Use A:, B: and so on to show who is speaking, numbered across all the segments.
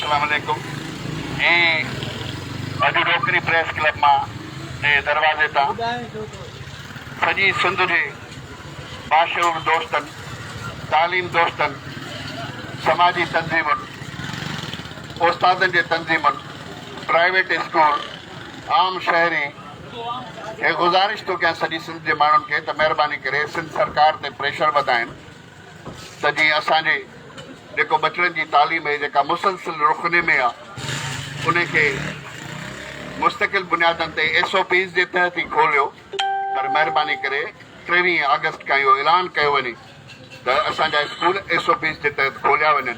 A: اسلام عليڪم جي اڄ روڪڙي پريس ڪلب مان جي دروازي تان سڄي سنڌ جي باشعور دوستن تعليم دوستن سماجي تنظيمن استادن جي تنظيمن پرائيويٽ اسڪول عام شهري کي گذارش ٿو ڪيان سڄي سنڌ جي ماڻهن کي ته مهرباني ڪري سنڌ سرڪار تي پريشر وڌائين ته جيئن اسان جي جيڪو ٻچڙن جي تعليم اهي جيڪا مسلسل رخني ۾ آ انهي کي مستقل بنيادن تي ايس او پيز جي تحت ئي کوليو پر مهرباني ڪري ٽيويهين آگسٽ کان اهو اعلان ڪيو وڃي ته اسان جا اسڪول ايس او پيز جي تحت کوليا وڃن.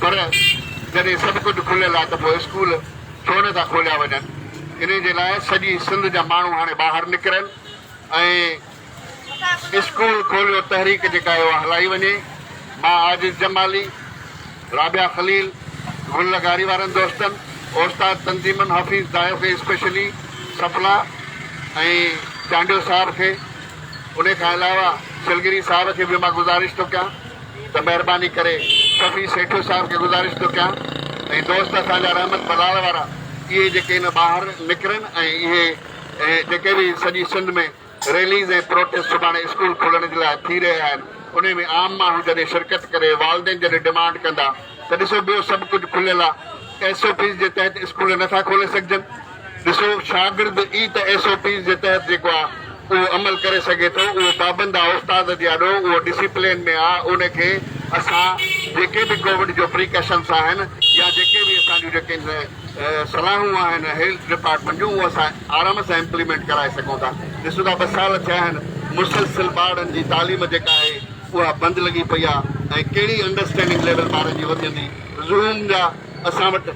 A: پر جڏهن سڀ ڪجهه کليل آهي ته پوء اسڪول ڇو نه ٿا کوليا وڃن. انهي جي لاء سڄي سنڌ جا ماڻهو هاڻي ٻاهر نڪرن ۽ اسڪول کوليو تحريڪ جيڪا آهي اها هلائي وڃي. مان عاجز جمالي، رابعه خليل، گل لغاري وارن دوستن، اوستاد تنظيمن، حفيظ دايو کي اسپيشلي، سڦلا ۽ چانڊيو صاحب کي، انهي کان علاوه سلگري صاحب کي به مان گذارش ٿو ڪيان. ته مهرباني ڪري سڀني سيٺو صاحب کي گذارش ٿو ڪيان ۽ دوست اسان جا رحمت بلاڙ وارا اهي جيڪي هن ٻاهر نڪرن ۽ اهي جيڪي به سڄي سنڌ ۾ ريليز ۽ پروٽيسٽ سڀاڻي اسڪول کلڻ جي لاء ٿي رهي آهن انهي ۾ عام ماڻهو جڏهن شرڪت ڪري والدين جڏهن ڊمانڊ ڪندا ته ڏسو ٻيو سڀ ڪجهه کليل آهي ايس او پيز جي تحت اسڪول نٿا کولي سگهجن. ڏسو، شاگرد ئي ته ايس او پيز جي تحت جيڪو آ اهو عمل ڪري سگهي ٿو، اهو پابند آ استاد جي آڏو، اهو ڊسيپلين ۾ آ، ان کي اسان جيڪي به ڪووڊ جو پريڪاشنس آهن يا جيڪي به اسان جون جيڪي صلاحون آهن هيلٿ ڊپارٽمينٽ جون اهو اسان آرام سان امپليمينٽ ڪرائي سگهون ٿا، ڏسو ٿا ٻه سال ٿيا آهن مسلسل ٻارڙن جي تعليم جيڪا آهي اها بند لڳي پئي آ ۽ ڪهڙي انڊرسٽينڊنگ ليول ٻارن جي وڌندي، زوم جا اسان وٽ.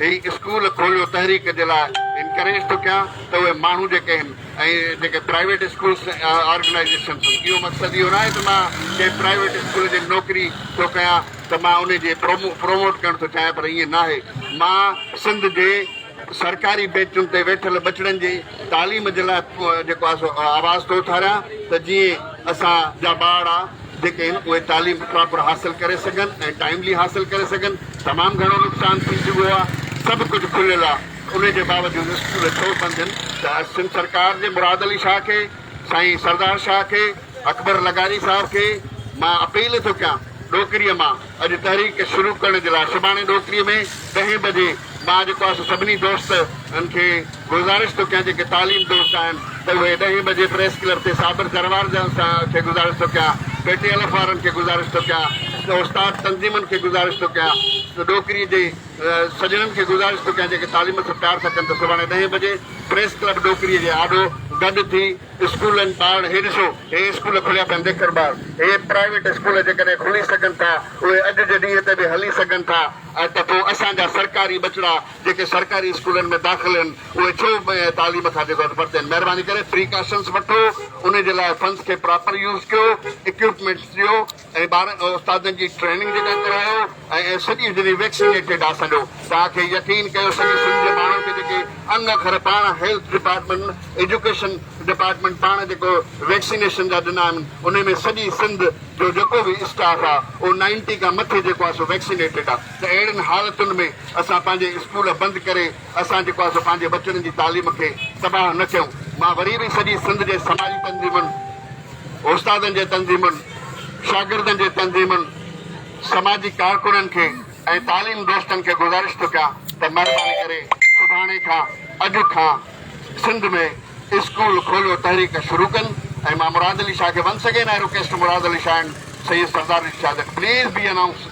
A: هي اسڪول کوليو تحريڪ جي لاء انڪريج ٿو ڪيان ته اهي ماڻهو جيڪي هن ۽ جيڪي پرائيويٽ اسڪولس آرگنائيزيشنس هن اهو مقصد اهو ناهي ته مان ڪنهن پرائيويٽ اسڪول جي نوڪري ٿو ڪيان ته مان انهي جي پروموٽ ڪرڻ ٿو چاهيان پر ائين ناهي مان سنڌ جي سرڪاري بينچن تي ويٺل ٻچڙن جي تعليم جي لاء جيڪو آهي سو آواز ٿو اٿاريان ته جيئن اسان جا ٻارڙا. جيڪي آهن اهي تعليم پراپر حاصل ڪري سگهن ۽ ٽائملي حاصل ڪري سگهن تمام گهڻو نقصان ٿي چڪو آهي سڀ ڪجهه کليل آهي انهي جي باوجود اسڪول ڇو سمجهن ته سنڌ سرڪار جي مراد علي شاهه کي سائين سردار شاهه کي اڪبر لغاري صاحب کي مان اپيل ٿو ڪيان ڏوڪري مان اڄ تحريڪ شروع ڪرڻ جي لاء سڀاڻي ڏوڪري ۾ ڏهين بجي مان جيڪو آسان سڀني دوست ان کي گذارش ٿو ڪيان جيڪي تعليم دوست آهن ته اهي ڏهين بجي پريس ڪلب تي صابر جروار جان سان کي گذارش ٿو ڪيان پي ٽي الف وارن کي گذارش ٿو ڪيان ته استاد تنظيمن کي گذارش ٿو ڪيان ته ڏوڪري جي سڄڻن کي گذارش ٿو ڪيان جيڪي تعليم سان پيار ٿا ڪن ته سڀاڻي ڏهين بجي پريس ڪلب ڏوڪري جي آڏو گڏ ٿي اسڪولن پاڻ هي ڏسو هي اسڪول کليا پيا ديکر ٻار هي پرائيويٽ اسڪول جيڪڏهن کلي سگهن ٿا اهي اڄ جي ڏينهن تي به هلي سگهن ٿا ته پو اسان جا سرڪاري ٻچڙا جيڪي سرڪاري اسڪولن ۾ داخل هن اهي ڇو تعليم کان جيڪو آهي پرتين مهرباني ڪري پريڪاشنس وٺو انهي جي لاء فنڊس کي پراپر يوز ڪيو اڪيوپمينٽس ڏيو. ۽ ٻارن کي استادن جي ٽريننگ جيڪا ڪرايو ۽ سڄي سنڌ ويڪسينيٽيڊ آ سڏو تان کي يقين ڪيو سڄي سنڌ جي ماڻهن کي جيڪي ان اکر پاڻ هيلٿ ڊپارٽمينٽ ايجوڪيشن ڊپارٽمينٽ پاڻ جيڪو ويڪسينيشن جا ڏنا آهن انهي ۾ سڄي سنڌ جو جيڪو به اسٽاف آ اهو نائنٽي کان مٿي جيڪو آ سو ويڪسينيٽيڊ آ ته اهڙين حالتن ۾ اسان پنهنجي اسڪول بند ڪري اسان جيڪو آ سو پنهنجي ٻچڙن جي تعليم کي تباهه نه ڪيون مان وري به سڄي سنڌ جي سماجي تنظيمن استادن جي تنظيمن، شاگردن جي تنظيمن، سماجي ڪارڪنن کي ۽ تعليم دوستن کي گذارش ٿو ڪيان ته مھرباني ڪري سڀاڻي کان، اڄ کان، سنڌ ۾ اسڪول کوليو تحريڪ شروع ڪن ۽ مان مراد علي شاھ کي once again I request Murad Ali Shah and Syed Sardar Rashid Shah that please be announce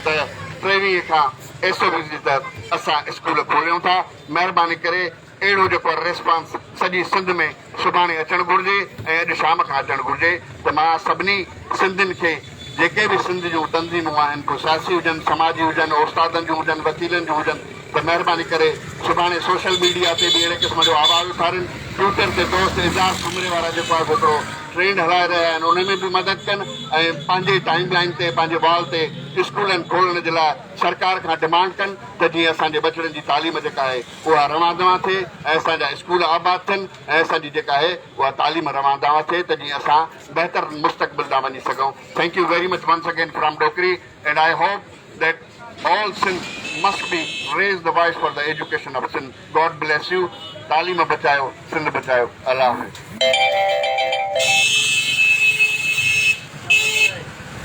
A: ته ٽيويھين کان ايس او پيز جي تحت اسان اسڪول کوليون ٿا مھرباني ڪري اهڙو جو پر ريسپانس سڄي سنڌ ۾ سڀاڻي اچڻ گهرجي ۽ اڄ شام کان اچڻ گهرجي ته مان سڀني سنڌين کي جيڪي به سنڌ جون تنظيمون آهن ڪو سياسي هجن سماجي هجن اوستادن جون هجن وڪيلن جون هجن ته مهرباني ڪري سڀاڻي سوشل ميڊيا تي به اهڙي قسم جو آواز اٿارين ٽوئيٽر تي دوست اظهار سومري وارا جيڪو آهي سو هڪڙو ٽرينڊ هلائي رهيا آهن ان ۾ به مدد ڪن ۽ پنهنجي ٽائيم لائين تي پنهنجي وال تي اسڪولن کولڻ جي لاء سرڪار کان ڊمانڊ ڪن ته جيئن اسان جي ٻچڙن جي تعليم جيڪا آهي اها روان دوان ٿئي ۽ اسان جا اسڪول آباد ٿين ۽ اسان جي جيڪا آهي اها تعليم روان دوان ٿئي ته جيئن اسان بهتر مستقبل ڏانهن وڃي سگهون thank you very much once again from Dokri and I hope that all Sindh must be raise the voice for the education of Sindh God bless you تعليم بچايو سنڌ بچايو الله حافظ.